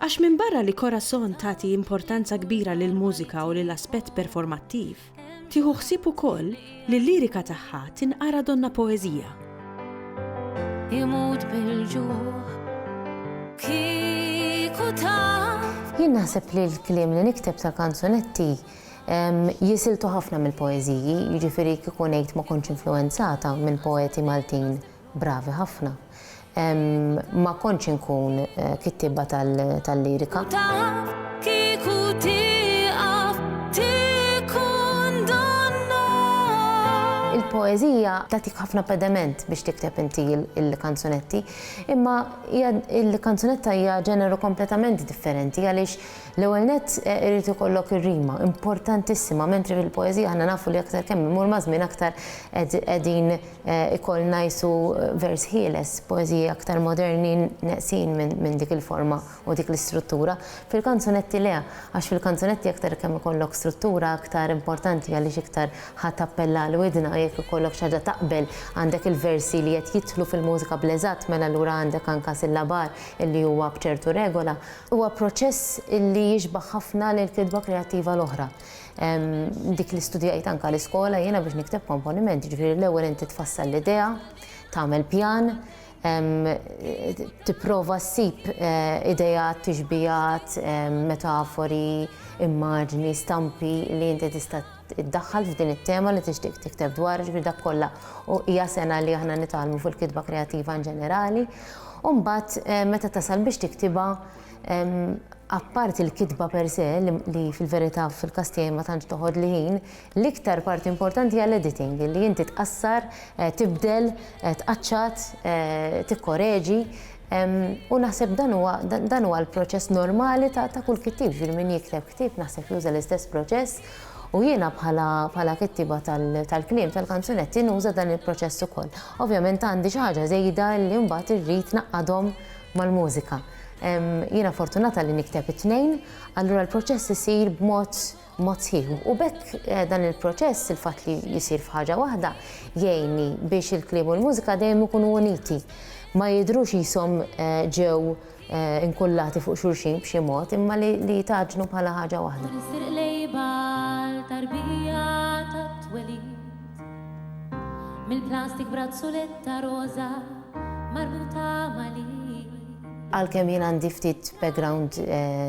Għax minbarra li Corazon tagħti importanza kbira lill-mużika u lil aspett performattiv, tieħu ħsieb ukoll li l-lirika tagħha tinqara donnha poeżija. Imut bil-ġuħ kieku taf Jien naħseb li l-kliem li nikteb ta' kanzunetti jisiltu ħafna mill-poeziji, jiġifieri kieku ngħid ma kontx influenzata minn poeti Maltin Bravi ħafna. Ma kontx inkun kittieba tal-lirika. U taf kieku tieqaf tikkundonna. Il-poeżija tagħtik ħafna pedement biex tikteb inti l-kanzunetti, imma hija l-kanzunetta hija ġeneru kompletament differenti għaliex l-ewwel nett irid ikollok ir-rima, importantissima, mentri fil-poeżija aħna nafu li aktar kemm imur maż-żmien aktar qegħdin Ikoll ngħisu vers ħieles, poeżiji aktar moderni neqsin minn dik il-forma u dik l-istruttura. Fil-kanzunetti le, għax fil-kanzunetti aktar kemm ikollok struttura aktar importanti għaliex iktar ħa tappella għal widna, jekk ikollok xi ħaġa taqbel, għandek il-versi li qed jidħlu fil-mużika bl-eżatt mela allura għandek anka sillabar illi huwa b'ċertu regola. Huwa proċess illi jixbah ħafna lill-kitba kreattiva l-oħra. dik li studjajt anka l-iskola jiena biex nikteb komponiment, jiġifieri l-ewwel inti tfassal l-idea, tagħmel pjan, tipprova ssib eh, idejat, tixbijat, metafori, immaġni, stampi li inti tista' iddaħħal f'din it-tema li tixtieq tikteb dwar, ġifieri dak kollha u hija sena li aħna nitgħallmu fil-kitba kreattiva in ġenerali. U mbagħad eh, meta tasal biex tiktibha Apparti l-kitba per se, li fil-verità fil-każ tiegħi ma tantx toħodli ħin, l-iktar parti importanti hija l-editing, li inti tqassar, tibdel, tqaċċat, tikkoreġi. U naħseb dan huwa dan huwa l-proċess normali ta' ta' kull kittieb, jiġifieri min jikteb ktieb naħseb juża l-istess proċess u jiena bħala bħala kittieba tal-kliem tal-kanzunetti nuża dan il-proċess ukoll. Ovvjament għandi xi ħaġa żejda li mbagħad irrid ngħaqqadhom mal-mużika. Jiena fortunata li nikteb it-tnejn, allura l-proċess isir b'mod mod sħiħ. U b'hekk dan il-proċess, il-fatt li jsir f'ħaġa waħda, jgħinni biex il-kliem u l-mużika dejjem ikunu uniti. Ma jidhrux qishom ġew inkullati fuq xulxin b'xi mod, imma li jitgħaġġnu bħala ħaġa waħda. Mill-plastik brazzuletta roża marbuta mali. Għalkemm jien għandi ftit background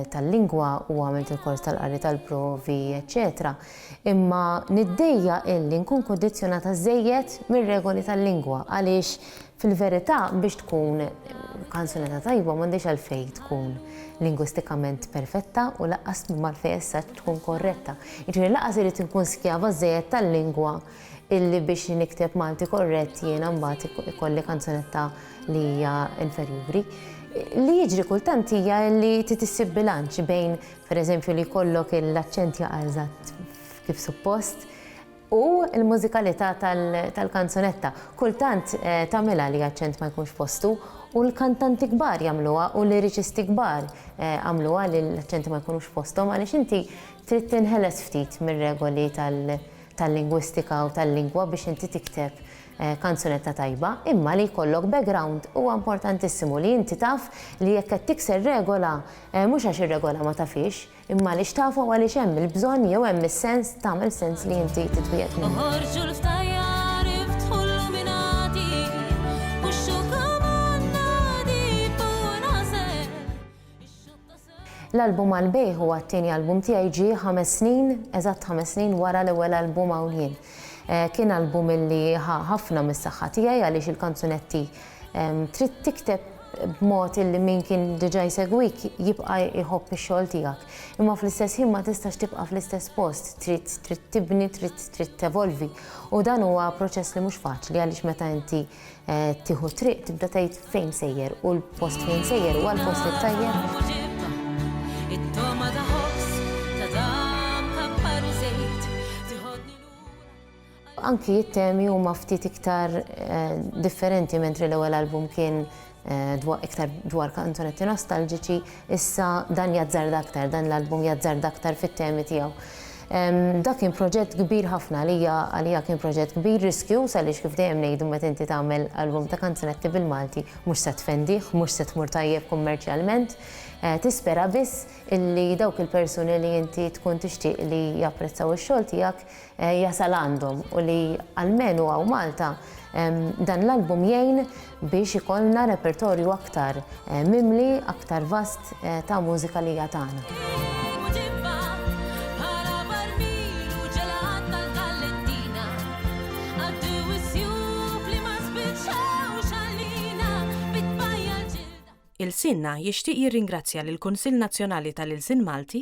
tal-lingwa u għamilt il-kors tal-qari tal-provi eċċetera, imma niddejjaq illi nkun kondizjonata żejjed mir-regoli tal-lingwa għaliex fil-verità biex tkun kanzunetta tajba m'għandhiex għalfejn tkun lingwistikament perfetta u lanqas m'hemm għalfejn as-saġġ tkun korretta. Jiġifieri lanqas irrid inkun skjava żżejjed tal-lingwa illi biex nikteb Malti korrett jiena mbagħad ikolli kanzunetta li hija inferjuri. Li jiġri kultant hija illi trid issib bilanċ bejn, pereżempju, li jkollok l-aċċent jaqa' eżatt kif suppost, u l-mużikalità tal-kanzunetta. Kultant tagħmilha li aċċent ma jkunx postu u l-kantanti kbar jagħmluha u l-liriċisti kbar għamluha li l-aċċenti ma jkunux f'posthom għaliex inti trid tinħeles ftit mir-regoli tal-lingwistika u tal-lingwa biex inti tikteb kanzunetta tajba imma li jkollok background huwa importantissimu li inti taf li jekk qed tikser regola mhux għax ir-regola ma tafhiex Imma għaliex taf u għaliex hemm il-bżonn jew hemm is-sens tagħmel sens li inti titwiegħed minn hawn. L-album għall-bejgħ huwa t-tieni album tiegħi ġie ħames snin, eżatt ħames snin wara l-ewwel album Hawn Jien. Kien album li ħa ħafna mis-saħħa tiegħi għaliex il-kanzunetti trid tikteb b'mod illi min kien diġà jsegwik jibqa' jħobb ix-xogħol tiegħek. Imma fl-istess ħin ma tistax tibqa' fl-istess post, trid trid tibni, trid trid tevolvi. U dan huwa proċess li mhux faċli għaliex meta inti tieħu t-triq tibda tgħid fejn sejjer u l-post fejn sejjer huwa l-post it-tajjeb. Anki t-temi huma ftit iktar differenti mentri l-ewwel album kien iktar dwar kanzunetti nostalġiċi, issa dan jazzarda aktar, dan l-album jazzarda aktar fit-temi tiegħu. Dak kien proġett kbir ħafna għalija, għalija kien proġett kbir, riskjuż għaliex kif dejjem ngħidu meta inti tagħmel album ta' kanzunetti bil-Malti mhux se tfendih, mhux se tmur tajjeb kummerċjalment, tispera biss illi dawk il-persuni li inti tkun tixtieq li japprezzaw ix-xogħol tiegħek jasal għandhom u li almenu hawn Malta dan l-album jgħin biex ikollna repertorju aktar mimli, aktar vast ta' mużika li hija tagħna. Ilsienna jixtieq jirringrazzja lill-Kunsill Nazzjonali tal-Ilsien Malti,